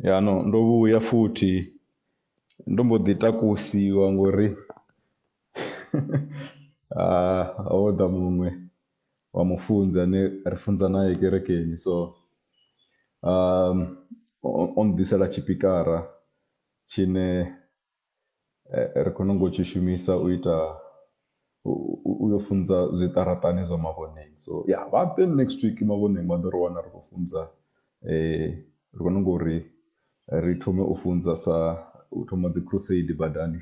Ya no ndo vhuya futhi ndo mbo ḓi takusiwa ngori ha ho ḓa muṅwe wa mufunzi ane ri funza nae kerekeni so o ḓisela tshipikara tshine. ri khou nungo tshi shumisa u ita u yo funza zwiṱaraṱani zwa mavhoneng so ya vha ḓe next week mavhoneng vha ḓo ri wana ri khou funza ri khou nungo uri ri thome u funza sa u thoma dzi crusade badani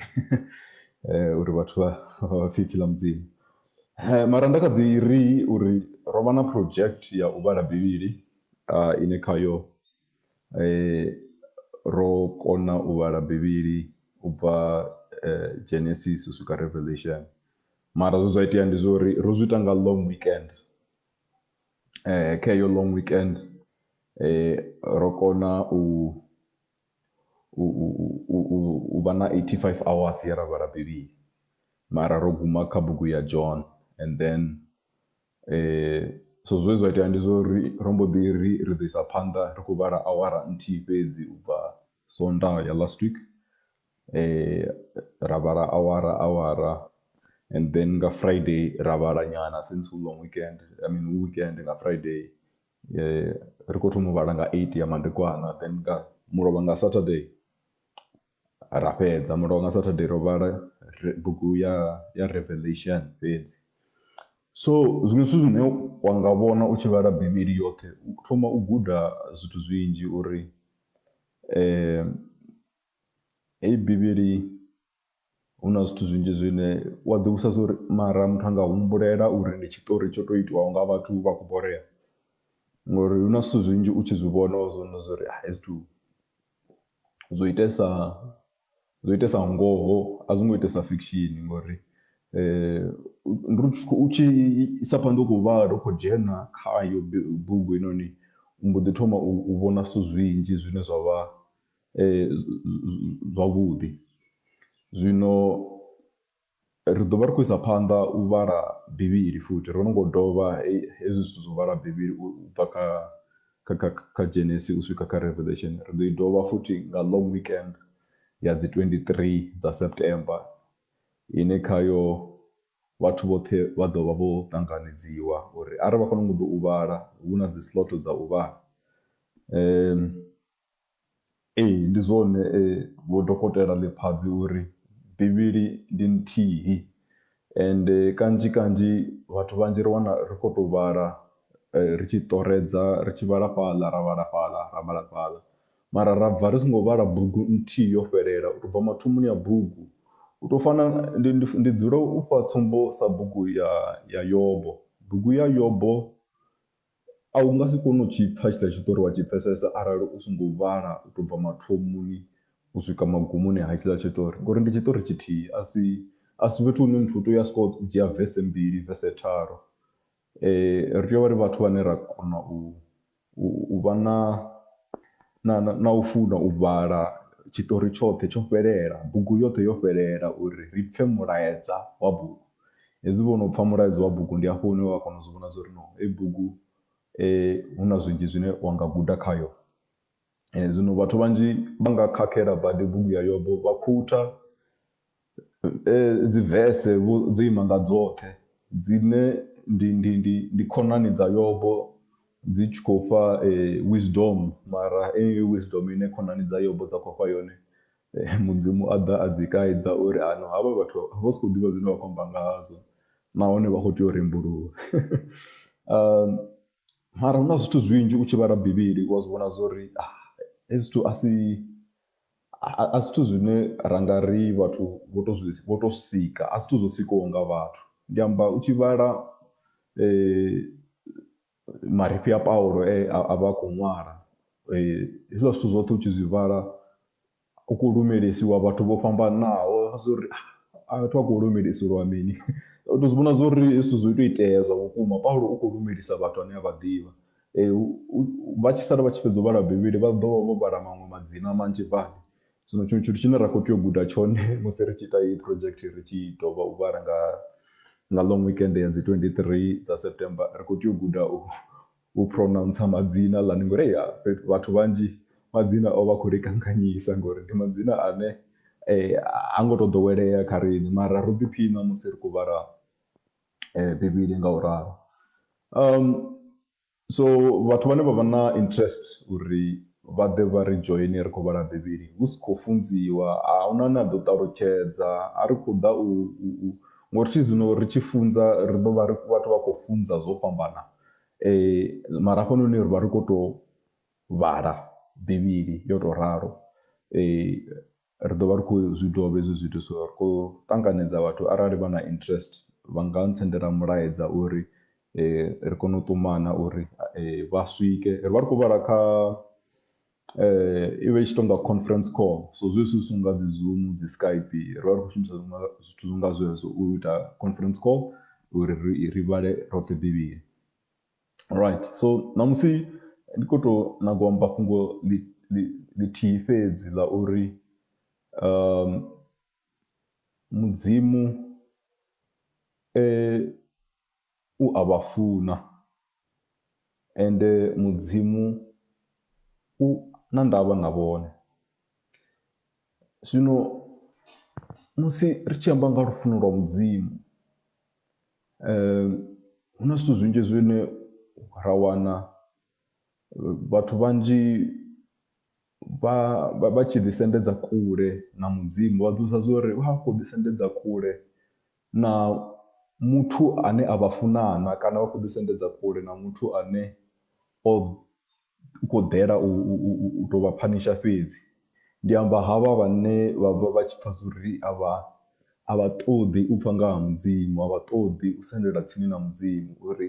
uri vhathu vha vha pfhe ipfhi ḽa mudzimu. Mara nda kha ḓi ri uri ro vha na project ya u vhala bivhili ine khayo. Ro kona u vhala Bivhili u bva Genesis u swika Revelation, mara zwe zwa itea ndi zwa uri ro zwi ita nga long weekend. Kha heyo long weekend ro kona u u u u u u vha na eighty five hours ye ra vhala Bivhili, mara ro guma kha bugu ya John and then So zwe zwa itea ndi zwa uri ro mbo ḓi ri ri ḓo isa phanḓa ri khou vhala awara nthihi fhedzi u bva Sondaha ya last week, ra vhala awara awara and then nga Friday ra vhala nyana since hu long weekend I mean hu weekend nga Friday ri kho thoma u vhala nga eight ya madekwana then nga mulovha nga Saturday. ra fhedza mulovha nga Saturday ro vhala bugu ya ya Revelation fhedzi. So zwiṅwe zwithu zwine wa nga vhona u tshi vhala bivhili yoṱhe u thoma u guda zwithu zwinzhi uri heyi bivhili hu na zwithu zwinzhi zwine wa ḓi vhudzisa zwori mara muthu anga humbulela uri ndi tshiṱori tsho to itiwaho nga vhathu vha kho borea ngori hu na zwithu zwinzhi u tshi zwi vhona wa zwi vhona zwori hezwi zwithu. zwo itesa zwo itesa ngoho a zwo ngo itesa fiction ngori ndi uri u tshi isa phanḓa u khou vhala u khou dzhena khayo bugu heinoni u mbo ḓi thoma u vhona zwithu zwinzhi zwine zwa vha zwavhuḓi zwino. Ri ḓo vha ri khou isa phanḓa u vhala Bivhili futhi. Ro no ngo dovha hezwi zwithu zwa u vhala Bivhili u bva kha, kha, kha, kha Genesis u swika kha Revelation. Ri ḓo i dovha futhi nga long weekend ya dzi 23 dza September ine khayo vhathu vhoṱhe vha ḓo vha vho ṱanganedziwa uri arali vha khou nanga u ḓa u vhala, hu na dzi slot dza u vhala. Ee, ndi zwone Vho Dokotela Lephatsi u ri Bivhili ndi nthihi ende kanzhi kanzhi vhathu vhanzhi ri wana ri khou tou vhala ri tshi ṱoredza ri tshi vhala fhaḽa ra vhala fhaḽa ra vhala fhaḽa mara ra bva ri songo vhala bugu nthihi yo fhelela u tou bva mathomoni a bugu. U tou fana ndi ndi ndi dzula u fha tsumbo sa bugu ya ya Yobo, bugu ya Yobo A u nga si kone u tshi pfa tshithu a tshi ḓo ri wa tshi pfesesa arali u songo vhala u to bva mathomoni u swika magumoni ha hetshiḽa tshiṱori ngori ndi tshiṱori tshithihi a si a si fhethu hune muthu u tea u ya soko dzhia vese mbili vese tharu. Ri tea u vha ri vhathu vhane ra kona u u vha na na na u funa u vhala tshiṱori tshoṱhe tsho fhelela bugu yoṱhe yo fhelela uri ri pfhe mulaedza wa bugu. Hezwi vho no pfha mulaedza wa bugu ndi hafho hune wa kona u zwi vhona zwa uri no heyi bugu hu na zwinzhi zwine wa nga guda khayo. Zwino vhathu vhanzhi vha nga khakhela badi bugu ya Yobo vha khutha dzi vese vho dzo ima nga dzoṱhe dzine ndi ndi ndi ndi khonani dza Yobo dzi tshi khou fha wisdom mara heneyo wisdom ine khonani dza Yobo dza khou fha yone Mudzimu a ḓa a dzi kaidza uri hano havha vhathu vha si khou ḓivha zwine vha khou amba nga hazwo nahone vha khou tea u rembuluwa. Mara hu na zwithu zwinzhi u tshi vhala Bivhili wa zwi vhona zwa uri hezwi zwithu a si a si zwithu zwine ra nga ri vhathu vho tou zwi vho tou sika, a si zwithu zwo sikaho nga vhathu. Ndi amba u tshi vhala marifhi a Paulo e a vha a khou ṅwala. Hezwiḽa zwithu zwoṱhe u tshi zwi vhala u khou lumelisiwa vhathu vho fhambanaho zwo ri a vhathu vha khou lumelisiwa mini. U tou zwi vhona zwo ri hezwi zwithu zwo tou itea zwa vhukuma, Paulo u khou lumelisa vhathu ane a vha ḓivha. Vha tshi sala vha tshi fhedza u vhala Bivhili vha ḓo vha vho vhala maṅwe madzina manzhi badi. Zwino tshiṅwe tshithu tshine ra khou tea u guda tshone musi ri tshi ita heyi project ri tshi dovha u vhala nga nga long weekend ya dzi 23 dza September ri khou tea u guda u u pronouncer madzina ḽani ngori ya vhathu vhanzhi madzina o vha khou ri kanganyisa ngori ndi madzina ane eh, ha ngo tou ḓowelea kha riṋe mara ro ḓiphina musi ri khou vhala eh, bivhili nga u ralo um, So vhathu vhane vha vha na interest uri vha ḓe vha ri joine ri khou vhala Bivhili hu si khou funziwa, a hu na ane a ḓo ṱalutshedza, a ri khou ḓa u u ngori thi zwino ri tshi funza ri ḓo vha ri vhathu vha khou funza zwo fhambana mara hafhanoni ri vha ri khou tou vhala Bivhili yo tou ralo. Ri ḓo vha ri khou zwi dovha hezwi zwithu, so ri khou ṱanganedza vhathu arali vha na interest vha nga ntsendela mulaedza uri ri kone u ṱumana uri vha swike. Ri vha ri khou vhala kha i vha i tshi tou nga conference call, so zwezwi zwi songo nga dzi Zoom, dzi Skype ri vha ri khou shumisa zwithu zwi nga zwezwo u ita conference call uri ri vhale roṱhe Bivhili. Alright so ṋamusi ndi kho to nyaga u amba fhungo ḽi ḽi ḽithihi fhedzi ḽa uri mudzimu u a vha funa, ende mudzimu u na ndavha na vhone. Zwino musi ri tshi amba nga ha lufuno lwa Mudzimu hu na zwithu zwinzhi zwine ra wana vhathu vhanzhi vha vha tshi ḓi sendedza kule na Mudzimu vha ḓivha zwa uri vha khou ḓi sendedza kule na muthu ane a vha funa na kana vha khou ḓi sendedza kule na muthu ane o u khou ḓela u, u, u, u tou vha phanisha fhedzi ndi amba havha vhane vha vha vha tshi pfha zwori a vha a vha ṱoḓi u pfha nga ha mudzimu a vha ṱoḓi u sendela tsini na mudzimu uri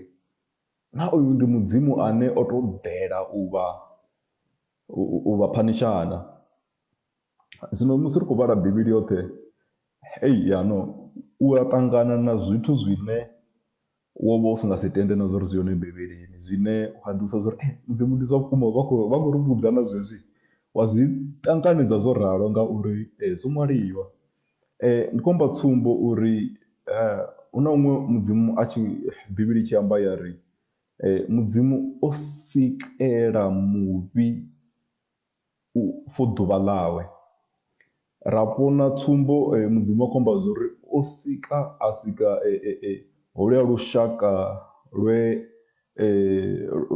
na uyu ndi mudzimu ane o tou ḓela u vha u vha phanishana zwino musi ri khou vhala bivhili yoṱhe ei yano u a ṱangana na zwithu zwine Wo vha u si nga si tende na zwa uri zwi hone Bivhilini zwine wa ḓivhudzisa zwa uri Mudzimu ndi zwa vhukuma vha khou vha khou ri vhudza na zwezwi. Wa zwi ṱanganedza zwo ralo ngauri zwo ṅwaliwa. Ndi khou amba tsumbo uri hu na huṅwe Mudzimu a tshi Bivhili i tshi amba ya ri Mudzimu o sikela muvhi u for ḓuvha ḽawe. Ra vhona tsumbo Mudzimu a khou amba zwori o sika a sika holwuya lushaka lwe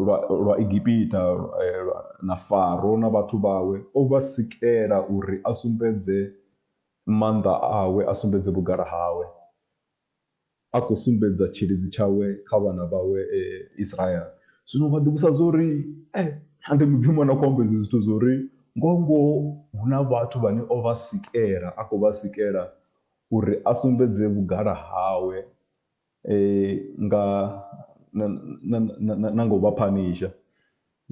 lwa lwa Egipita na Faro na vhathu vhawe o vha sikela uri a sumbedze maanḓa awe a sumbedze vhugala hawe. A khou sumbedza tshilidzi tshawe kha vhana vhawe Israele. Zwino vha ḓivhusa zwa uri, Ee, a ndi Mudzimu a no khou amba izwi zwithu zwa uri ngoho-ngoho hu na vhathu vhane o vha sikela, a khou vha sikela uri a sumbedze vhugala hawe nga na nga u vha phanisha.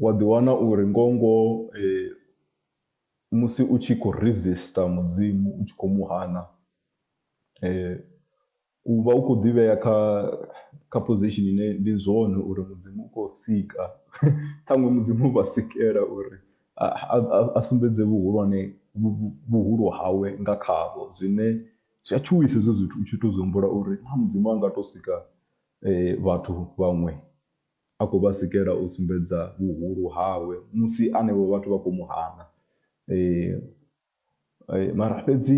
Wa ḓiwana uri ngoho-ngoho musi u tshi khou resistor Mudzimu u tshi khou mu hana u vha u khou ḓi vhea kha kha position ine ndi zwone uri Mudzimu u khou sika ṱhaṅwe Mudzimu u vha sikela uri a sumbedze vhuhulwane vhuhulu hawe nga khavho zwine zwi a tshuwisa hezwo zwithu u tshi to zwi humbula uri na Mudzimu a nga to sika vhathu vhaṅwe A khou vha sikela u sumbedza vhuhulu hawe musi anevho vhathu vha khou mu hana. Mara fhedzi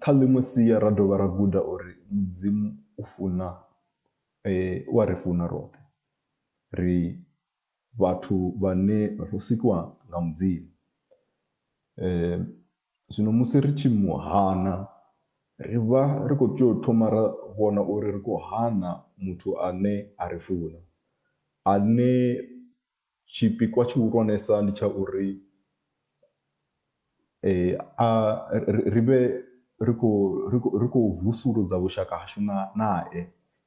kha ḽiṅwe sia ra dovha ra guda uri Mudzimu u funa, u a ri funa roṱhe. Ri vhathu vhane ro sikwa nga Mudzimu. Zwino musi ri tshi mu hana, ri vha ri khou tea u thoma ra vhona uri ri khou hana muthu ane a ri funa, ane tshipikwa tshihulwanesa ndi tsha uri a ri vhe ri khou vusuludza vhushaka hashu nae.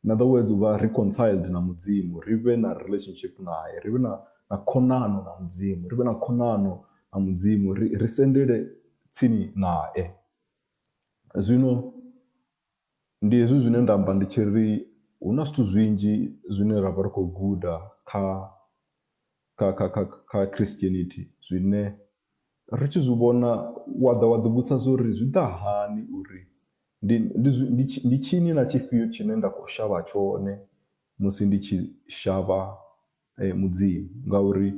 In other words, u vha reconciled na Mudzimu, ri vhe na relationship nae, ri vhe na, na khonano na Mudzimu, ri vhe na khonano na Mudzimu, ri, ri sendele tsini nae. Zwino ndi hezwi zwine nda amba ndi tshi ri hu na zwithu zwinzhi zwine ra vha ri khou guda kha kha kha kha kha Christianity zwine Ri tshi zwi vhona, wa ḓa wa ḓivhudzisa zwa uri zwi ḓa hani uri ndi ndi ndi ndi tshini na tshifhio tshine nda khou shavha tshone musi ndi tshi shavha Mudzimu ngauri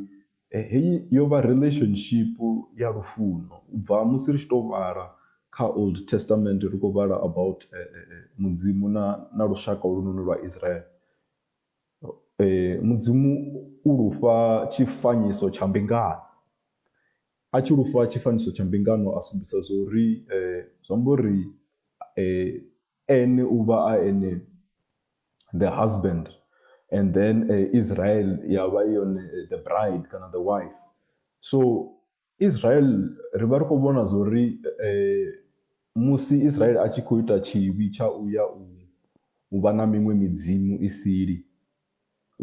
heyi yo vha relationship ya lufuno u bva musi ri tshi tou vhala kha Old Testament ri khou vhala about Mudzimu na na lushaka holunoni lwa Israel. Mudzimu u lu fha tshifanyiso tsha mbingano, a tshi lu fha tshifanyiso tsha mbingano a sumbedzisa zwo uri zwi amba uri ene u vha a ene the husband and then Israel ya vha i yone the bride kana the wife so. Israel ri vha ri khou vhona zwa uri musi Israel a tshi khou ita tshivhi tsha u ya u vha na miṅwe midzimu i sili,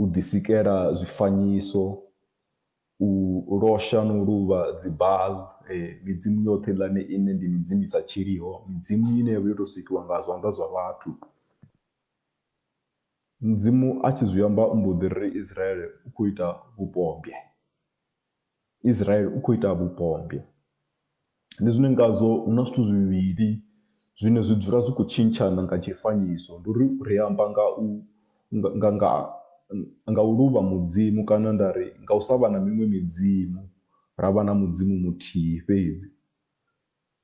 u ḓisikela zwifanyiso, u losha na u luvha dzi Baal, midzimu yoṱhe heiḽani ine ndi midzimu i sa tshiliho, midzimu ine ya vha yo tou sikiwa nga zwanḓa zwa vhathu. Mudzimu a tshi zwi amba u mbo ḓi ri Israel u khou ita vhupombwe. Israel u khou ita vhupombwe. Ndi zwine ngazwo hu na zwithu zwivhili zwine zwi dzula zwi khou tshintshana nga tshifanyiso. Ndi uri ri amba nga u nga nga nga u luvha mudzimu kana nda ri nga u sa vha na miṅwe midzimu ra vha na mudzimu muthihi fhedzi.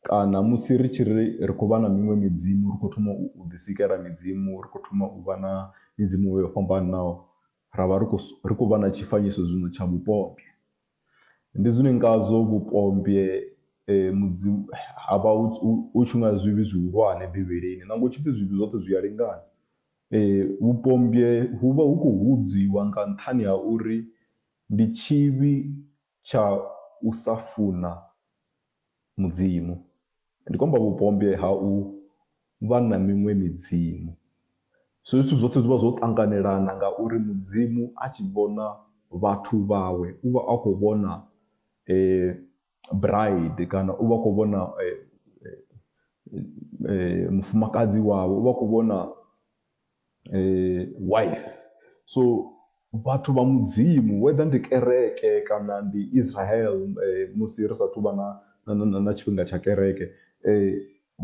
Kana musi ri tshi ri ri khou vha na miṅwe midzimu, ri khou thoma u u ḓisikela midzimu, ri khou thoma u vha na midzimu vho yo fhambanaho, ra vha ri khou ri khou vha na tshifanyiso zwino tsha vhupombwe. Ndi zwine ngazwo vhupombwe mudzi ha vha hu hu hu tshi nga zwivhi zwihulwane Bivhilini nangwe hu tshi pfhi zwivhi zwoṱhe zwi a lingana. Vhupombwe hu vha hu khou hudziwa nga nṱhani ha uri ndi tshivhi tsha u sa funa Mudzimu. Ndi khou amba vhupombwe ha u vha na miṅwe midzimu. Zwenezwo zwithu zwoṱhe zwi vha zwo ṱanganelana ngauri Mudzimu a tshi vhona vhathu vhawe u vha a khou vhona bride kana u vha a khou vhona mufumakadzi wawe, u vha a khou vhona Wife. So vhathu vha mudzimu whether ndi kereke kana ndi Israel musi ri sathu vha na na na tshifhinga tsha kereke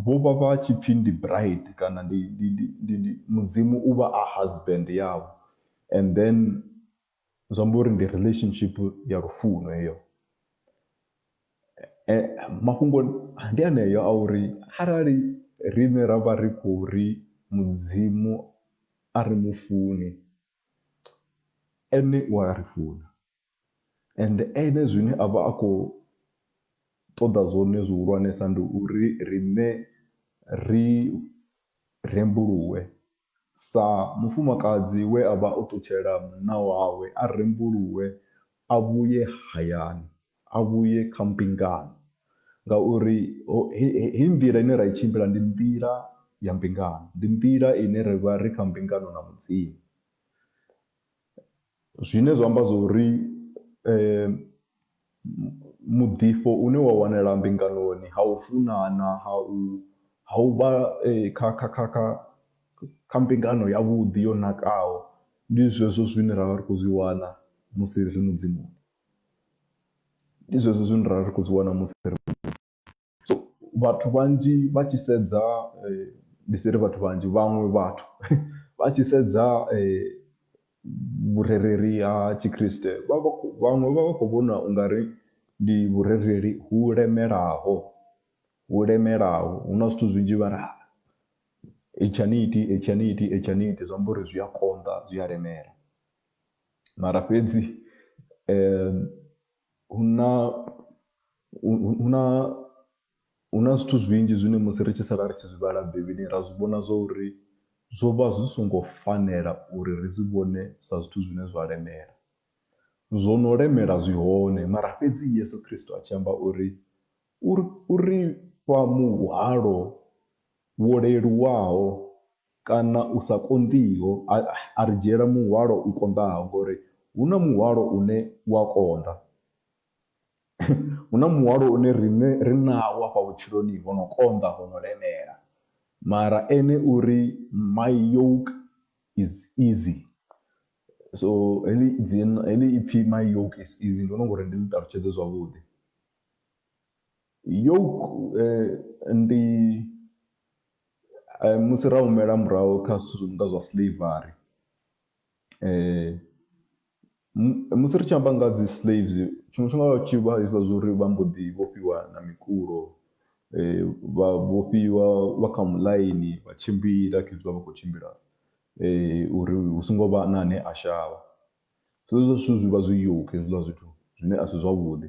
vho vha vha tshi pfhi ndi bride kana ndi ndi ndi ndi mudzimu u vha a husband yavho and then zwi amba uri ndi relationship ya lufuno heyo eh, mafhungo ndi aneyo a uri arali riṋe ra vha ri khou ri mudzimu a ri mu funi ene u a ri funa and ene zwine a vha a khou ṱoḓa zwone zwihulwanesa ndi uri riṋe ri rembuluwe Sa mufumakadzi we a vha o ṱutshela munna wawe, a rembuluwe a vhuye hayani, a vhuye kha mbingano, ngauri heyi nḓila ine ra i tshimbila ndi nḓila ya mbingano, ndi nḓila ine ra vha ri kha mbingano na Mudzimu. Zwine zwa amba zwori muḓifho une wa wanala mbinganoni ha u funana ha u ha u vha kha kha kha kha kha mbingano ya vhuḓi yo nakaho ndi zwezwo zwine ra vha ri khou zwi wana musi ri mudzimu. Ndi zwezwo zwine ra vha ri khou zwi wana musi ri muḓini. So vhathu vhanzhi vha tshi sedza ndi si ri vhathu vhanzhi vhaṅwe vhathu vha tshi sedza vhurereli ha tshikriste vha vha khou vhaṅwe vha vha khou vhona u nga ri ndi vhurereli hu lemelaho, hu lemelaho hu na zwithu zwinzhi vha ri ha hetshi a ni iti, hetshi a ni iti, hetshi a ni iti zwi amba uri zwi a konḓa zwi a lemela. Mara fhedzi Hu na, hu na, hu na zwithu zwinzhi zwine musi ri tshi sala ri tshi zwi vhala Bivhilini ra zwi vhona zwa uri zwo vha zwi songo fanela uri ri zwi vhone sa zwithu zwine zwa lemela. Zwo no lemela zwi hone mara fhedzi Yeso Khristo a tshi amba uri u ri fha muhwalo wo leluwaho Kana u sa konḓiho, a, a ri dzhiela muhwalo u konḓaho, ngauri hu na muhwalo une u a konḓa. hu na muhwalo une riṋe ri nawo afha vhutshiloni ho no konḓa, ho no lemela. Mara Ene u ri, My yoke is easy. So heḽi dzina, heḽi ipfi My yoke is easy, ndi vhona u nga uri ndi ḽi ṱalutshedze zwavhuḓi. Yoke ndi. Musi ra humela murahu kha zwithu zwi no nga zwa slavery, musi ri tshi amba nga ha dzi slaves tshiṅwe tshifhinga ho vha hu tshi vha hezwiḽa zwa uri vha mbo ḓi vhofhiwa na mikulo, vha vhofhiwa vha kha muḽaini vha tshimbila khezwiḽa vha khou tshimbila uri hu songo vha na ane a shavha. Zwezwo zwithu zwi vha zwi yoke hezwiḽa zwithu zwine a si zwavhuḓi.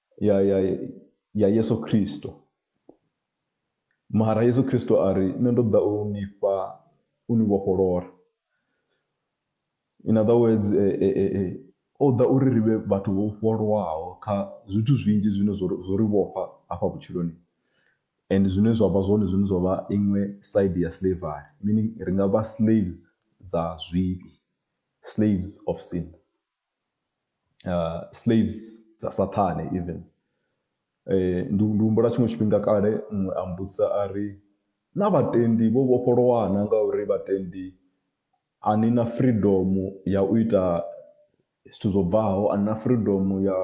ya, ya, ya yesu khristo mara yesu khristo a ri nṋe ndo ḓa u ni fha u ni vhofholora in other words e, e, e, e, o ḓa uri ri vhe vhathu vho vhofholowaho kha zwithu zwinzhi zwine zwo ri vhofha hafha vhutshiloni and zwine zwa vha zwone zwine zwa vha iṅwe side ya slavery meaning ri nga vha slaves dza zwivhi slaves of sin Slaves dza saṱhane even ndi ndi humbula tshiṅwe tshifhinga kale muṅwe a mbudzisa a ri na vhatendi vho vhofholowa na ngauri vhatendi a ni na freedom ya u ita zwithu zwo bvaho a na freedom ya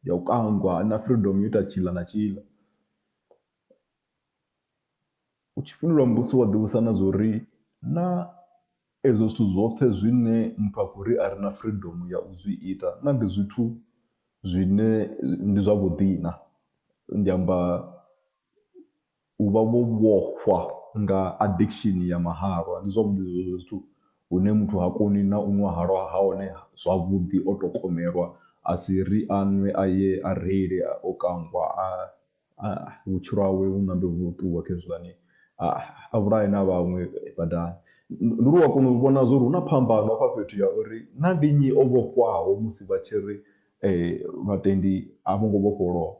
ya u kangwa na freedom ya u ita tshiḽa na tshiḽa. U tshi fhindula mbudziso wa ḓivhudzisa na zwa uri, Naa ezwo zwithu zwoṱhe zwine muthu a khou ri a re na freedom ya u zwi ita naa ndi zwithu zwine ndi zwavhuḓi na? Ndi amba u vha vho vhofhwa nga addiction ya mahalwa, ndi zwavhuḓi zwezwo zwithu hune muthu ha koni na u ṅwa halwa ha hone zwavhuḓi o tou komelwa a si ri a ṅwe a ye a reile o kangwa a. vhutshilo hawe vhu ṋambe vhu ṱuwe khezwiḽani a vhulahe na vhaṅwe badani. Ndi uri u a kona u vhona zwa uri hu na phambano hafha fhethu ya uri na ndi nnyi o vhofhwaho musi vha tshi ri vhatendi a vho ngo vhofholowa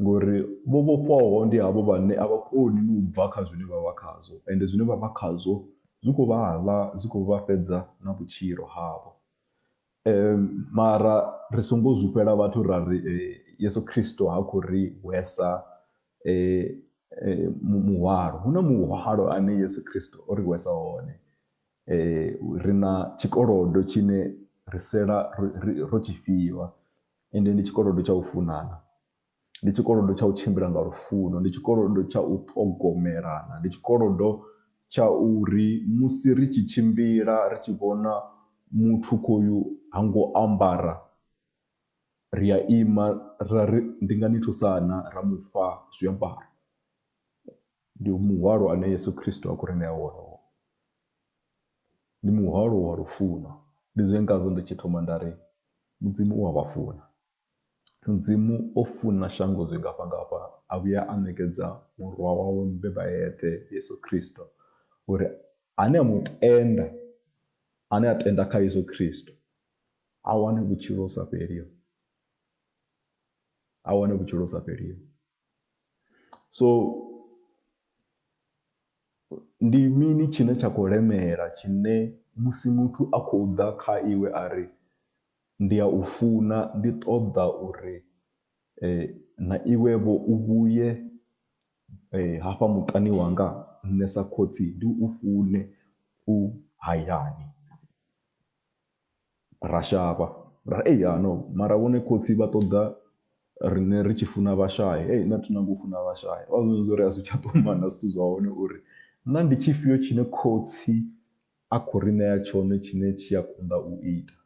ngori vho vhofhwaho ndi havho vhane a vha koni no u bva kha zwine vha vha khazwo ende zwine vha vha khazwo zwi khou vha ḽa zwi khou vha fhedza na vhutshilo havho. Mara ri songo zwifhela vhathu ra ri Yesu Kristo ha khou ri hwesa muhwalo. Hu na muhwalo ane Yesu Kristo o ri hwesa wone, ri na tshikolodo tshine ri sala ro tshi fhiwa ende ndi tshikolodo tsha u funana. ndi tshikolodo tsha u tshimbila nga lufuno, ndi tshikolodo tsha u ṱhogomelana, ndi tshikolodo tsha uri musi ri tshi tshimbila ri tshi vhona muthu khoyu ha ngo ambara ri a ima ra ri ndi nga ni thusa na ra mufha zwiambaro, ndi muhwalo ane Yeso Khristo a khou ri ṋea wone hoyo, ndi muhwalo wa lufuno ndi zwine ngazwo ndi tshi thoma nda ri Mudzimu u a vha funa. Mudzimu o funa shango zwingafhangafha a vhuya a ṋekedza murwa wawe mubeba eṱhe Yesu Khristo uri ane a mu tenda ane a tenda kha Yesu Khristo a wane vhutshilo sa fheliho a wane vhutshilo sa fheliho so ndi mini tshine tsha khou lemela tshine musi muthu a khou ḓa kha iwe a ri Ndi a u funa, ndi ṱoḓa uri na iwe-vho u vhuye hafha muṱani wanga, nṋe sa khotsi ndi u fune u hayani. Ra shavha, ra ri, Ei ha no, mara vhone khotsi vha ṱoḓa riṋe ri tshi funa vhashai, hei nṋe a thi nyagi u funa vhashai. Vha vha vhudza uri a zwi tsha ṱumana zwithu zwa hone uri naa ndi tshifhio tshine khotsi a khou ri ṋea tshone tshine tshi a konḓa u ita.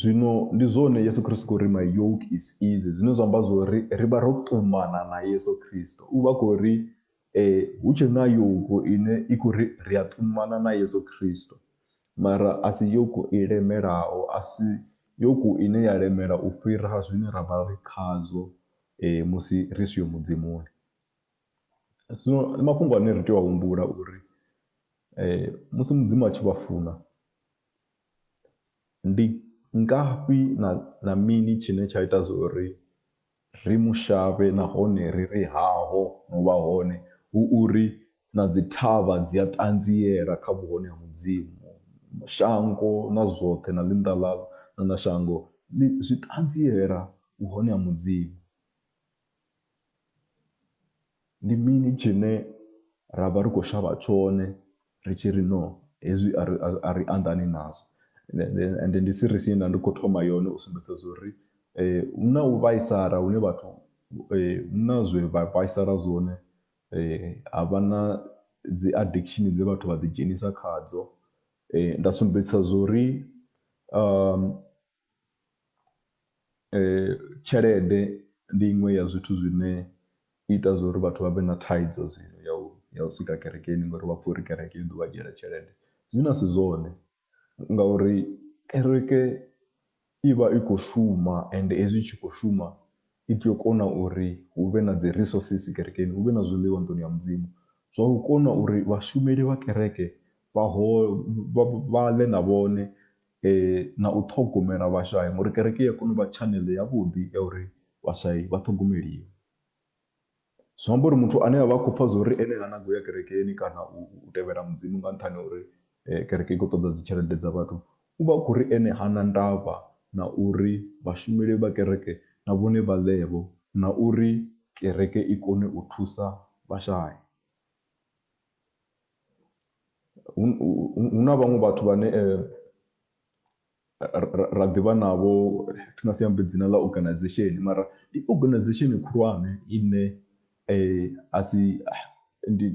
Zwino ndi zwone Yesu Kristo khou ri my yoke is easy zwine zwa amba zwori ri vha ro ṱumana na Yeso Kristo u vha khou ri hu tshe na yoke ine i khou ri ri a ṱumana na Yeso Kristo mara a si yoke i lemelaho a si yoke ine ya lemela u fhira zwine ra vha ri khazwo musi ri siho mudzimuni. Zwino ndi mafhungo ane ri tea u humbula uri musi Mudzimu a tshi vha funa ndi ngafhi na na mini tshine tsha ita zwo ri ri mu shavhe nahone ri ri haho no vha hone hu uri na dzi thavha dzi a ṱanziela kha vhuhone ha Mudzimu. Shango na zwoṱhe na ḽinnḓa ḽa na shango ḽi zwi ṱanziela vhuhone ha Mudzimu. Ndi mini tshine ra vha ri khou shavha tshone ri tshi ri no hezwi a ri a ri anḓani nazwo, ende ndi series ye nda ndi khou thoma yone u sumbedzisa zwa uri hu na u vhaisala hune vhathu hu na zwe vha vhaisala zwone ha vha na dzi addiction dze vhathu vha ḓi dzhenisa khadzo. Nda sumbedzisa zwa uri . Tshelede ndi iṅwe ya zwithu zwine i ita zwa uri vhathu vha vhe na thaidzo zwino ya u ya u swika kerekeni ngori vha pfha uri kereke i ḓo vha dzhiela tshelede zwine a si zwone ngauri kereke i vha i khou shuma ende hezwi i tshi khou shuma i tea u kona uri hu vhe na dzi resources kerekeni, hu vhe na zwiḽiwa nḓuni ya Mudzimu. Zwa u kona uri vhashumeli vha kereke vha ho vha ḽe na vhone na u ṱhogomela vhashai ngori kereke iya kona u vha tshaneḽe yavhuḓi ya uri vhashai vha ṱhogomeliwe. Zwi amba uri muthu ane avha a khou pfha zwa uri ene ha nyagi uya kerekeni kana u tevhela mudzimu nga nṱhani ha uri kereke i khou ṱoḓa dzi tshelede dza vhathu, uvha a khou ri ene hana ndavha na uri vhashumeli vha kereke na vhone vha ḽe vho na uri kereke i kone u thusa vhashai. hu na vhaṅwe vhathu vhane ra ḓivha navho thi nga si ambe dzina ḽa organization mara ndi organization khulwane ine a si ndi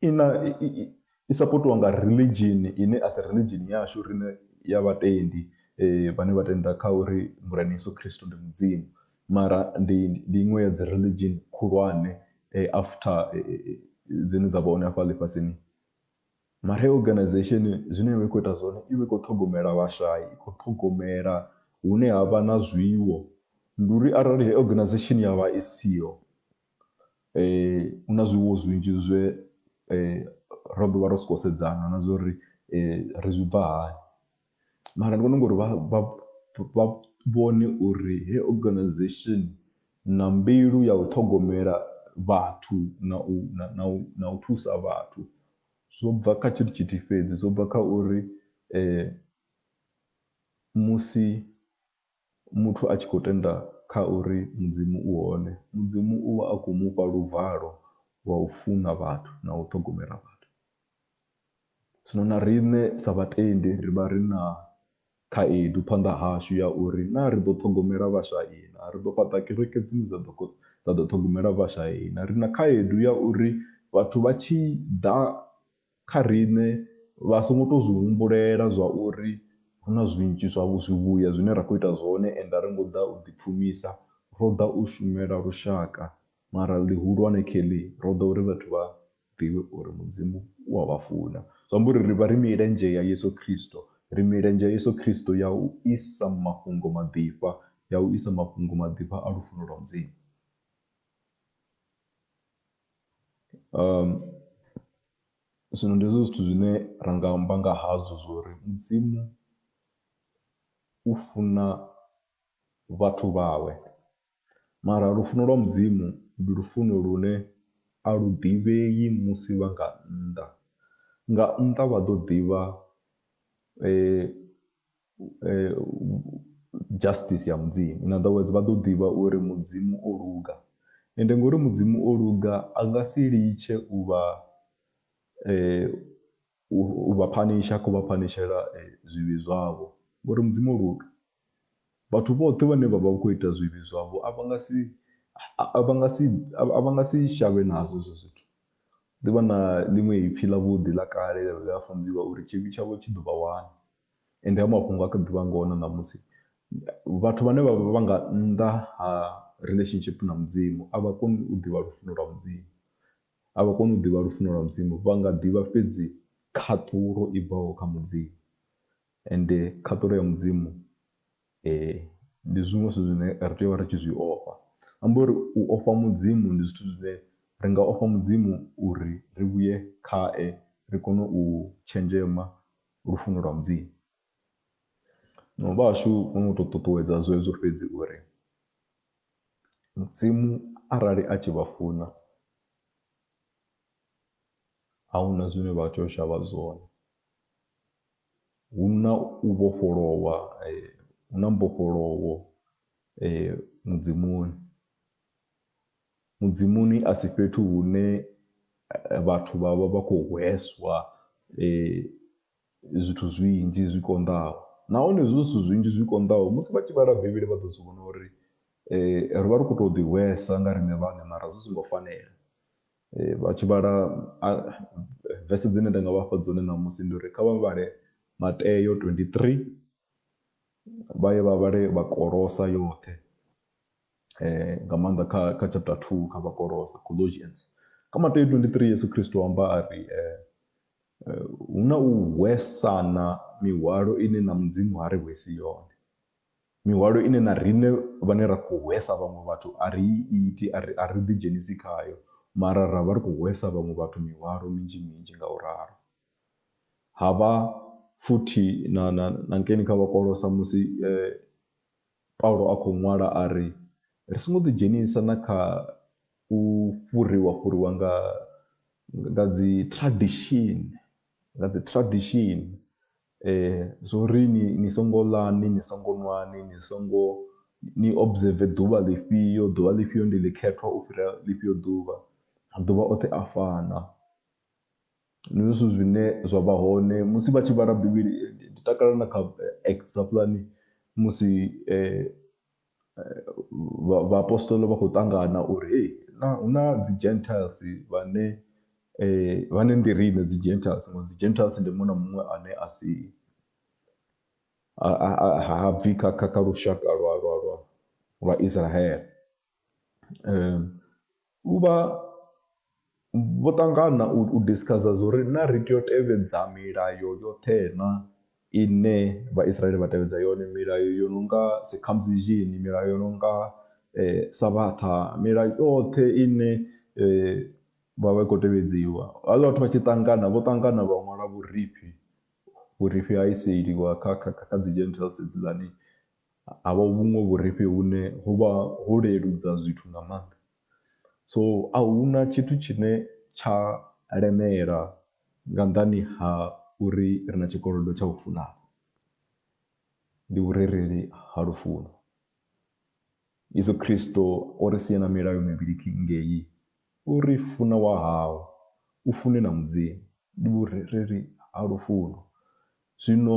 i na i sapotiwa nga religion ine a si religion yashu riṋe ya vhatendi vhane vha tenda kha uri Murena Yeso Khristo ndi Mudzimu. mara ndi ndi iṅwe ya dzi religion khulwane after dzine dza vha hone afha ḽifhasini. Mara heyi organization zwine ya vha i khou ita zwone i vha i khou ṱhogomela vhashai, i khou ṱhogomela hune ha vha na zwiwo, ndi uri arali heyi organization ya vha i siho hu na zwiwo zwinzhi zwe ra ḓo vha ro sokou sedzana na zwa uri ri zwi bva hani. mara ndi vhona ungari vha vha vha vhone uri heyi organization na mbilu ya u ṱhogomela vhathu na u na na u na u thusa vhathu zwo bva kha tshithu tshithihi fhedzi zwo bva kha uri musi. Muthu a tshi khou tenda kha uri Mudzimu u hone, Mudzimu u vha a khou mu fha luvalo lwa u funa vhathu na u ṱhogomela vhathu. Zwino na riṋe sa vhatendi ri vha ri na khaedu phanḓa hashu ya uri naa ri ḓo ṱhogomela vhashai naa? Ri ḓo fhaṱa kereke dzine dza ḓo dza ḓo ṱhogomela vhashai naa? Ri na khaedu ya uri vhathu vha tshi ḓa Kha riṋe, vha songo tou zwi humbulela zwa uri hu na zwinzhi zwa zwivhuya zwine ra khou ita zwone ende a ri ngo ḓa u ḓipfumisa, ro ḓa u shumela lushaka. Mara ḽihulwane Kelly, ro ḓa uri vhathu vha ḓivhe uri Mudzimu u a vha funa. Zwi amba uri ri vha ri milenzhe ya Yesu Kristo. Ri milenzhe ya Yesu Kristo ya u isa mafhungo maḓifha, ya u isa mafhungo maḓifha a lufuno lwa Mudzimu. Zwino ndi hezwo zwithu zwine ra nga amba nga hazwo zwori mudzimu u funa vhathu vhawe, mara lufuno lwa mudzimu ndi lufuno lune a lu ḓivhei musi vha nga nnḓa, nga nnḓa vha ḓo ḓivha . Justice ya Mudzimu. In other words, vha ḓo ḓivha uri Mudzimu o luga. Ende ngori Mudzimu o luga, a nga si litshe u vha u vha phanisha, ha khou vha phanishela zwivhi zwavho ngori Mudzimu o luga. Vhathu vhoṱhe vhane vha vha vha khou ita zwivhi zwavho a vha nga si, a vha nga si, a vha nga si shavhe nazwo hezwo zwithu. Ḓi vha na ḽiṅwe ipfi ḽavhuḓi ḽa kale ḽe ḽa funziwa uri tshivhi tshavho tshi ḓo vha wana. Ende hayo mafhungo ha kha ḓi vha ngoho na ṋamusi. Vhathu vhane vha vha vha nga nnḓa ha relationship na Mudzimu a vha koni u ḓivha lufuno lwa Mudzimu, a vha koni u ḓivha lufuno lwa Mudzimu. Vha nga ḓivha fhedzi khaṱulo i bvaho kha Mudzimu, ende khaṱulo ya Mudzimu ndi zwiṅwe zwithu zwine ri tea u vha ri tshi zwi ofha. Amba uri u ofha Mudzimu ndi zwithu zwine ri nga ofha Mudzimu uri ri vhuye khae, ri kone u tshenzhema lufuno lwa Mudzimu. Zwino vhahashu vho no tou ṱuṱuwedza zwezwo fhedzi uri Mudzimu arali a tshi vha funa a hu na zwine vha tea u shavha zwone. Hu na u vhofholowa hu na mbofholowo Mudzimuni. Mudzimuni a si fhethu hune vhathu vha vha vha khou hweswa zwithu zwinzhi zwi konḓaho, nahone hezwo zwithu zwinzhi zwi konḓaho musi vha tshi vhala Bivhili vha ḓo zwi vhona uri ri vha ri khou tou ḓihwesa nga riṋe vhaṋe mara zwi songo fanela. Vha tshi vhala vese dzine nda nga vhafha dzone ṋamusi ndi uri kha vha vhale Mateo twenty-three vha ye vha vhale vha Kolosa yoṱhe. eh, nga maanḓa kha kha chapter 2 kha vhakolose colossians kha mateyo 23 yesu kristo amba a ri eh, eh, hu na u hwesana mihwalo ine na mudzimu ha ri hwesi yone mihwalo ine na riṋe vhane ra khou hwesa vhaṅwe vhathu a ri iti a ri a ri ḓidzhenisi khayo mara ra vha ri khou hwesa vhaṅwe vhathu mihwalo minzhi minzhi nga u ralo ha vha futhi na, na, na nkeni kha vhakolosa musi eh, Paulo a khou ṅwala a ri, Ri songo ḓidzhenisa na kha u fhuriwa-fhuriwa nga nga dzi tradishini, nga dzi tradishini zwo uri ni ni songo ḽani, ni songo ṅwani, ni songo ni observer ḓuvha ḽifhio, ḓuvha ḽifhio ndi ḽikhethwa u fhira ḽifhio ḓuvha, maḓuvha oṱhe a fana. Ndi zwone zwithu zwine zwa vha hone musi vha tshi vhala Bivhili. Ndi takalela na kha Acts hafhaḽani musi vha vhaapostola vha khou ṱangana uri hei naa hu na dzi Gentiles vhane vhane ndi riṋe dzi Gentiles. Ngori dzi Gentiles ndi muṅwe na muṅwe ane a si, ha ha ha bvi kha kha kha lushaka lwa lwa lwa lwa Isiraele. u vha vho ṱangana u discussor zwo ri na ri tea u tevhedza milayo yoṱhe na ine vhaisraele vha tevhedza yone milayo yo no nga circumcision milayo yo no nga savhatha milayo yoṱhe ine vha vha i khou tevhedziwa havhala vhathu vha tshi ṱangana vho ṱangana vha ṅwala vhurifhi vhurifhi ha iseliwa kha kha kha kha dzi gentiles hedziḽani. ha vha vhuṅwe vhurifhi vhune ho vha ho leludza zwithu nga maanḓa. So a hu na tshithu tshine tsha lemela nga nnḓani ha uri ri na tshikolodo tsha u funana, ndi vhurereli ha lufuno. Yeso Khristo o ri siela milayo mivhili ngei, u ri, Funa wa hau, u fune na Mudzimu. Ndi vhurereli ha lufuno. Zwino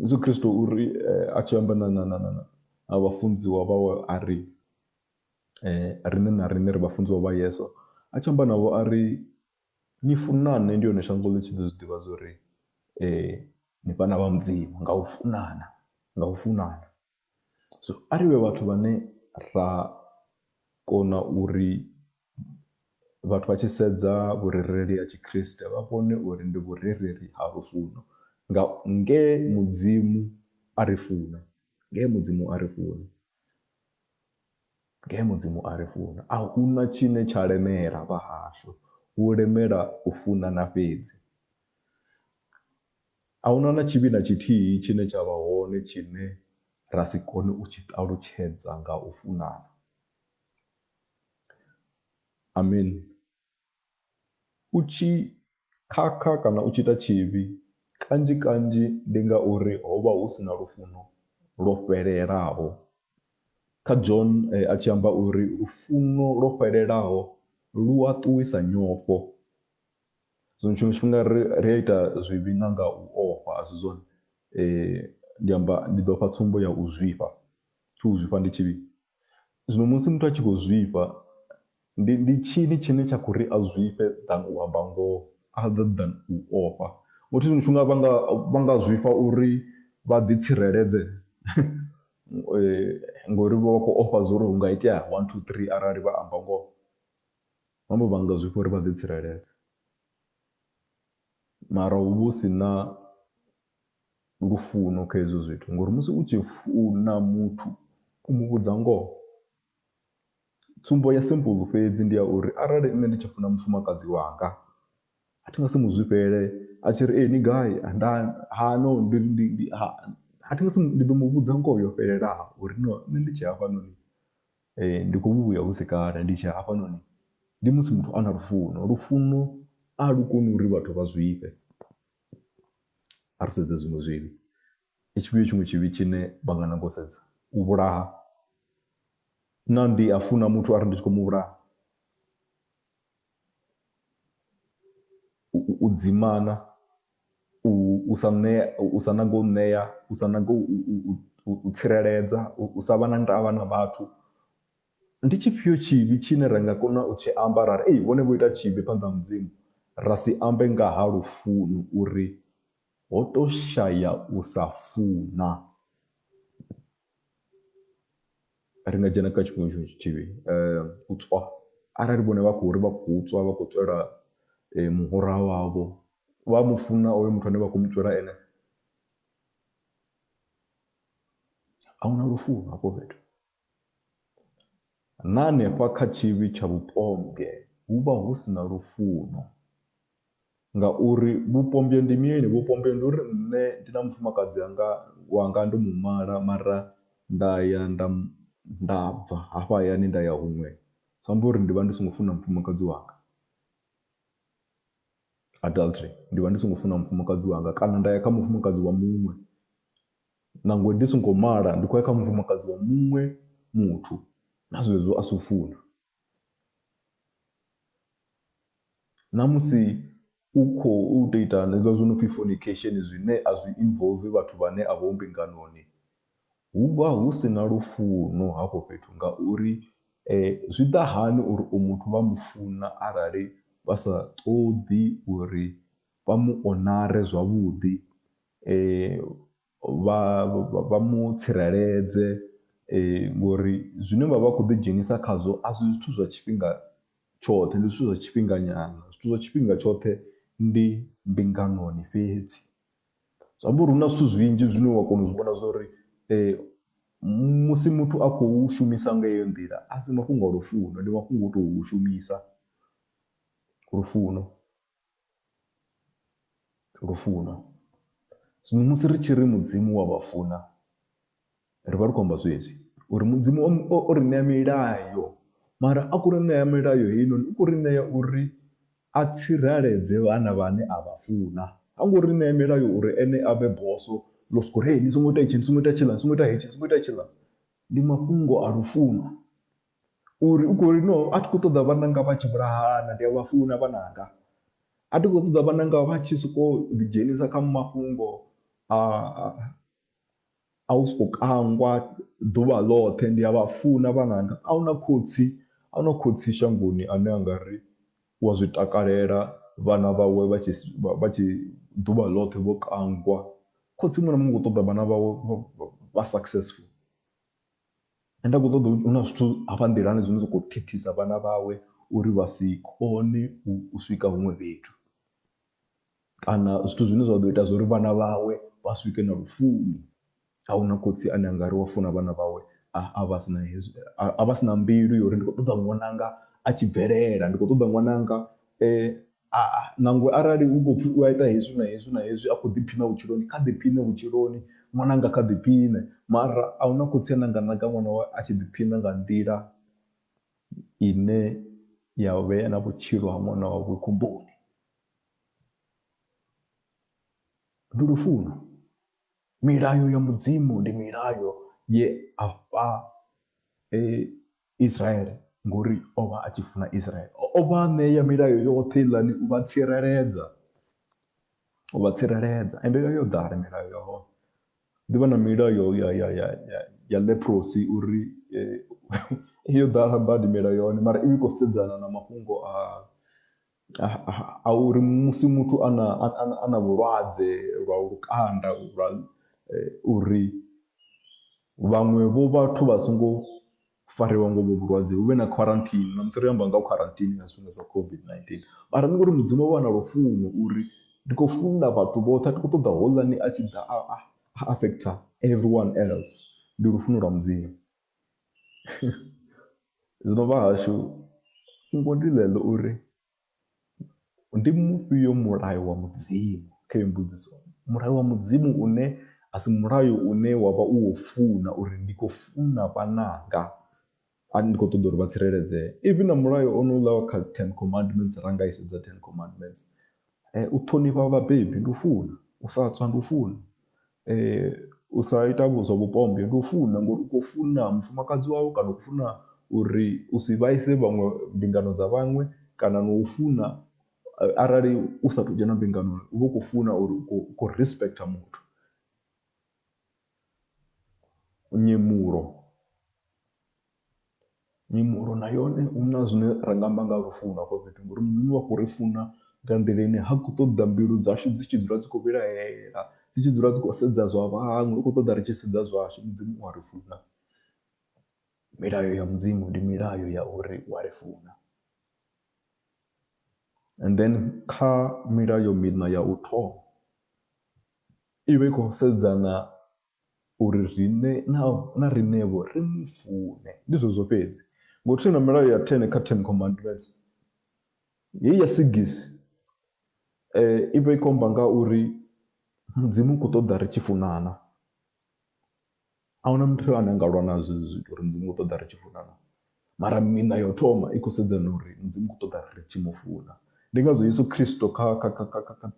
Yesu Kristo u ri a tshi amba na na na na na vhafunziwa vhawe a ri riṋe na riṋe ri vhafunziwa vha Yeso a tshi amba navho a ri ni funane ndi hone shango ḽi tshi ḓo zwi ḓivha zwori ni vhana vha Mudzimu nga u funana nga u funana. So a ri vhe vhathu vhane ra kona uri vhathu vha tshi sedza vhurereli ha tshikriste vha vhone uri ndi vhurereli ha lufuno nga nge mudzimu a ri funa nge mudzimu a ri funa nge mudzimu a ri funa a huna tshine tsha lemela vha hashu hu lemela u funa na fhedzi A huna na tshivhi na tshithihi tshine tsha vha hone tshine ra si kone u tshi ṱalutshedza nga u funana. Amen. U tshi khakha kana u tshi ita tshivhi, kanzhi kanzhi ndi ngauri ho vha hu si na lufuno lwo fhelelaho. Kha John a tshi amba uri lufuno lwo fhelelaho lu a ṱuwisa nyofho. Zwino tshiṅwe tshifhinga ri ri a ita zwivhi na nga u ofha a si zwone ndi amba ndi ḓo fha tsumbo ya u zwifha tsho u zwifha ndi tshivhi zwino musi muthu a tshi khou zwifha ndi ndi tshini tshine tsha kho ri a zwifhe than u amba ngoho other than u ofha ngo uri tshiṅwe tshifhinga vha nga vha nga zwifha uri vha ḓi tsireledze ngori vha vha khou ofha zwa uri hu nga itea one two three arali vha amba ngoho. Mambo vha nga zwifha uri vha ḓitsireledze, mara hu vha hu si na lufuno kha hezwo zwithu ngori musi u tshi funa muthu u mu vhudza ngoho. Tsumbo ya simple fhedzi ndi ya uri arali nṋe ndi tshi funa mufumakadzi wanga a thi nga si mu zwifhele a tshi ri ni gai nda ha no ndi ndi ndi ha a thi nga si ndi ḓo mu vhudza ngoho yo fhelelaho uri no nṋe ndi tshee hafhanoni Ee, ndi khou vhu vhuya hu si kale ndi tshi hafhanoni, ndi musi muthu a na lufuno. Lufuno a lu koni uri vhathu vha zwifhe. A ri sedze zwiṅwe zwivhi, ndi tshifhio tshiṅwe tshivhi tshine vha nga nanga u sedza? U vhulaha. Naa ndi a funa muthu a ri ndi tshi khou mu vhulaha? U dzimana, u sa ṋea, u sa nanga u ṋea, u sa nanga u tsireledza, u sa vha na ndavha na vhathu. Ndi tshifhio tshivhi tshine ra nga kona u tshi amba ra ri ei vhone vho ita tshivhi phanḓa ha Mudzimu, ra si ambe nga ha lufuno uri ho tou shaya u sa funa? ri nga dzhena kha tshiṅwe tshiṅwe tshitshivhi um u tswa arali vhone vha khou ri vha khou tswa vha khou tswela um muhura wavho vha mu funa oyo muthu ane vha khou mu tswela ene a huna lufuno hafho fhethu. Na hanefha kha tshivhi tsha vhupombwe hu vha hu si na lufuno. Ngauri vhupombwe ndi mini? Vhupombwe ndi uri nṋe ndi na mufumakadzi anga, wanga ndo mu mala mara nda ya nda nda bva hafha hayani nda ya huṅwe, zwi amba uri ndi vha ndi songo funa mufumakadzi wanga. Adultery, ndi vha ndi songo funa mufumakadzi wanga kana nda ya kha mufumakadzi wa muṅwe. Nangwe ndi songo mala, ndi khou ya kha mufumakadzi wa muṅwe muthu, na zwezwo a si u funa. Na musi u khou tou ita hezwiḽa zwo no pfhi fornication zwine a zwi involve vhathu vhane a vho mbinganoni, hu vha hu si na lufuno hafho fhethu ngauri zwi ḓa hani uri u muthu vha mu funa arali vha sa ṱoḓi uri vha mu onare zwavhuḓi. vha vha mu tsireledze ngori zwine vha vha khou ḓi dzhenisa khazwo a si zwithu zwa tshifhinga tshoṱhe, ndi zwithu zwa tshifhinga nyana. Zwithu zwa tshifhinga tshoṱhe ndi mbinganoni fhedzi, zwi amba uri hu na zwithu zwinzhi zwine wa kona u zwi vhona zwa uri musi muthu a khou shumisa nga heyo nḓila a si mafhungo a lufuno, ndi mafhungo o tou shumisa lufuno. Lufuno. Zwino musi ri tshi ri Mudzimu wa vha funa, ri vha ri khou amba zwezwi uri Mudzimu o ri ṋea milayo mara a khou ri ṋea milayo heinoni u khou ri ṋea uri a tsireledze vhana vhane a vha funa. Ha ngo ri ṋea milayo uri ene a vhe bosso ḽo sokou ri hei ni songo ita hetshi, ni songo ita tshiḽa, ni songo ita hetshi, ni songo ita tshiḽa. Ndi mafhungo a lufuno. Uri u khou ri no a thi khou ṱoḓa vhananga vha tshi vhulahana ndi a vha funa vhananga. A thi khou ṱoḓa vhananga vha tshi sokou ḓi dzhenisa kha mafhungo a a u sokou kangwa ḓuvha ḽoṱhe ndi a vha funa vhananga. A huna khotsi a huna khotsi shangoni ane a nga ri u a zwi takalela vhana vhawe vha tshi vha tshi ḓuvha ḽoṱhe vho kangwa. Khotsi muṅwe na muṅwe u khou ṱoḓa vhana vhawe vha successful Nṋe nda khou ṱoḓa hu na zwithu hafha nḓilani zwine zwa khou thithisa vhana vhawe uri vha si kone u swika huṅwe fhethu kana zwithu zwine zwa ḓo ita zwa uri vhana vhawe vha swike na lufuni. A hu na khotsi ane a nga ri wa funa vhana vhawe a vha si na hezwi, a vha si na mbilu ya uri ndi khou ṱoḓa ṅwananga a tshi bvelela, ndi khou ṱoḓa ṅwananga . A, nangwe arali hu khou pfhi u a ita hezwi na hezwi na hezwi a khou ḓiphina vhutshiloni, kha ḓiphine vhutshiloni. Ṅwananga kha ḓiphine. Mara a hu na khotsi ane a nga nanga ṅwana wawe a tshi ḓiphina nga nḓila ine ya vhea na vhutshilo ha ṅwana wawe khomboni. Ndi lufuno, milayo ya Mudzimu ndi milayo ye a fha Israele, ngori o vha a tshi funa Israele. O vha a ṋea milayo yoṱhe heiḽani u vha tsireledza, u vha tsireledza. Ende yo vha yo ḓala milayo ya hone, ḓi vha na milayo ya ya ya ya ya leprosi uri yo ḓala badi milayo ya hone mara i vha i khou sedzana na mafhungo a a uri musi muthu a na a na vhulwadze lwa lukanda lwa uri vhaṅwe vho vhathu vha songo fariwa ngo vho vhulwadze hu vhe na quarantine na musi ri amba nga quarantine nga zwifhinga zwa COVID-19, mara ndi ngori mudzimu o vha na lufuno uri ndi khou funa vhathu vhoṱhe a thi khou ṱoḓa houḽani a tshi ḓa a affect everyone else ndi lufuno lwa mudzimu. Zwino vhahashu fhungo ndi ḽeḽo uri ndi mufhio mulayo wa mudzimu kha heyi mbudziso, mulayo wa mudzimu une a si mulayo une wavha u wo funa uri ndi khou funa vhananga a ndi kho ṱoḓa uri vha tsireledzee, even na mulayo onouḽa wa kha dzi ten commandments ra nga i sedza ten commandments eh, u ṱhonifha vhabebi ndi u funa u sa tswa ndi u funa eh, u sa ita zwa vhupombe ndi u funa ngori u khou funa mufumakadzi wawe kana u funa uri u si vhaise vhaṅwe mbingano dza vhaṅwe kana no u funa eh, arali u sa tou dzhena mbinganoni u vha u khou funa uri u khou respecta muthu nyemulo Mimoḽo na yone hu na zwine ra nga amba nga ha lufuno hafho fhethu ngori Mudzimu u a khou ri funa nga nḓila ine ha khou ṱoḓa mbilu dzashu dzi tshi dzula dzi khou vhilahela, dzi tshi dzula dzi khou sedza zwa vhaṅwe. U khou ṱoḓa ri tshi sedza zwashu, Mudzimu u a ri funa. Milayo ya Mudzimu ndi milayo ya uri u a ri funa and then kha milayo miṋa ya u thoma i vha i khou sedzana uri riṋe na na riṋevho ri mu fune. Ndi zwezwo fhedzi. Ngo u tenda milayo ya 10 kha Ten Commandments, heyi ya sigisi i vha i khou amba nga uri Mudzimu u khou ṱoḓa ri tshi funana. A hu na muthu ane a nga lwa nazwo hezwi zwithu uri Mudzimu u khou ṱoḓa ri tshi funana. mara miṋa yo thoma i khou sedza na uri mudzimu u khou ṱoḓa ri tshi mu funa ndi ngazwo yesu khristo kha kha kha kha kha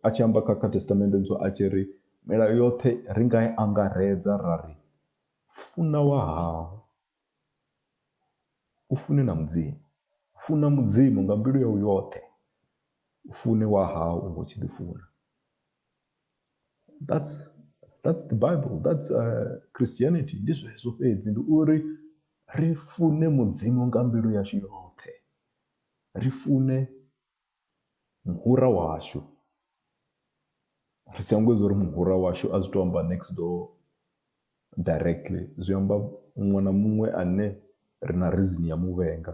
a tshi amba kha kha thestamende ntswa a tshi ri milayo yoṱhe ri nga i angaredza ra ri funa wa hau u fune na mudzimu funa mudzimu nga mbilu yau yoṱhe u fune wa hau u ngo tshi ḓi funa. that's that's the bible that's uh, christianity ndi zwezwo fhedzi ndi uri ri fune mudzimu nga mbilu yashu yoṱhe ri fune muhura washu ri si angwedza uri muhura washu a zwi to amba next door directly zwi amba muṅwe na muṅwe ane ri na reason ya muvhenga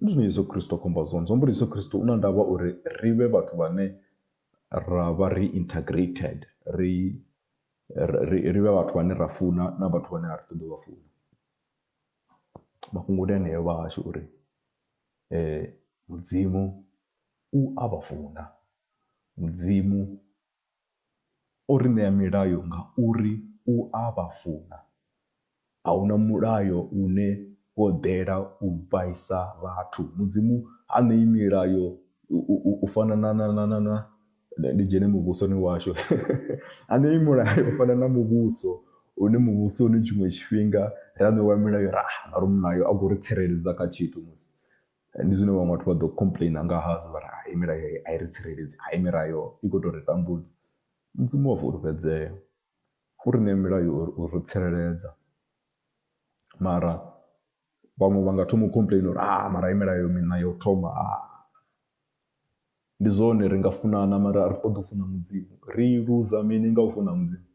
Ndi zwine Yesu Kristo a khou amba zwone, zwi amba uri Yeso Kristo u na ndavha uri ri vhe vhathu vhane ra vha ri integrated, ri ri ri vhe vhathu vhane ra funa na vhathu vhane a ri ṱoḓi u vha funa. Mafhungo ndi eneo vhahashu uri Mudzimu u a vha funa, Mudzimu O ri ṋea milayo ngauri u a vha funa. A hu na mulayo une wo ḓela u vhaisa vhathu. Mudzimu ha ṋei milayo u fana na na na na na ndi dzhene muvhusoni washu. Ha ṋei mulayo u fana na muvhuso une muvhusoni tshiṅwe tshifhinga ra ṋewa milayo ra hana uri mulayo a khou ri tsireledza kha tshithu musi. Ndi zwine vhaṅwe vhathu vha ḓo complainer nga hazwo vhari hai milayo heyi ai ri tsireledzi hai milayo i kho tori tambudza. Mudzimu u a fulufhedzea u ri ṋea milayo uri u ri tsireledza mara vhaṅwe vha nga thoma u complainer uri ha mara heyi milayo miṋa yo thoma ha. Ndi zwone ri nga funana mara a ri ṱoḓi u funa mudzimu ri luza mini nga u funa mudzimu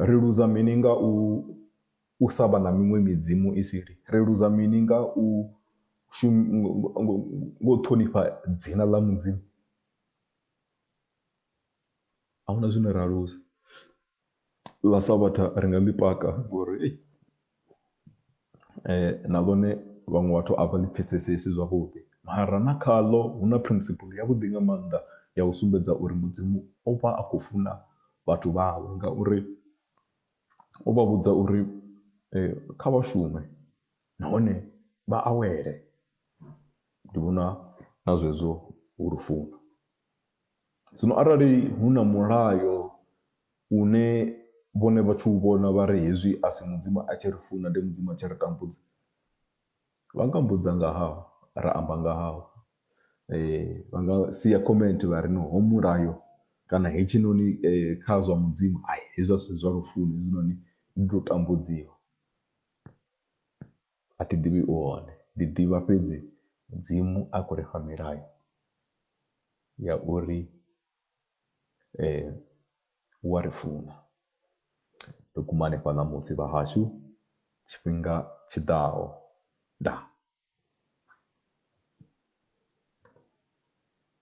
ri luza mini nga u u sa vha na miṅwe midzimu i sili? Ri luza mini nga u nga u ṱhonifha dzina ḽa Mudzimu? A hu na zwine ra luza. Ḽa Savhatha ri nga ḽi paka ngori ei na ḽone vhaṅwe vhathu a vha ḽi pfhesesesi zwavhuḓi mara na khaḽo hu na principle yavhuḓi nga maanḓa ya u sumbedza uri Mudzimu o vha a khou funa vhathu vhawe ngauri O vha vhudza uri kha vha shume nahone vha awele. Ndi vhona na zwezwo hu lufuno. Zwino arali hu na mulayo une vhone vha tshi u vhona vha ri hezwi a si Mudzimu a tshi ri funa ndi Mudzimu a tshi ri tambudza, Vha nga mbudza nga hau ra amba nga hau vha nga sia comment vha ri no hoyu mulayo kana hetshinoni kha zwa mudzimu ai hezwi asi zwa lufuni hezwinoni ndi tou tambudziwa. A thi ḓivhi u hone ndi ḓivha fhedzi mudzimu a khou ri fha milayo ya uri. U a ri funa. Ri kumane fha ṋamusi vhahashu tshifhinga tshi ḓaho. Ndaa.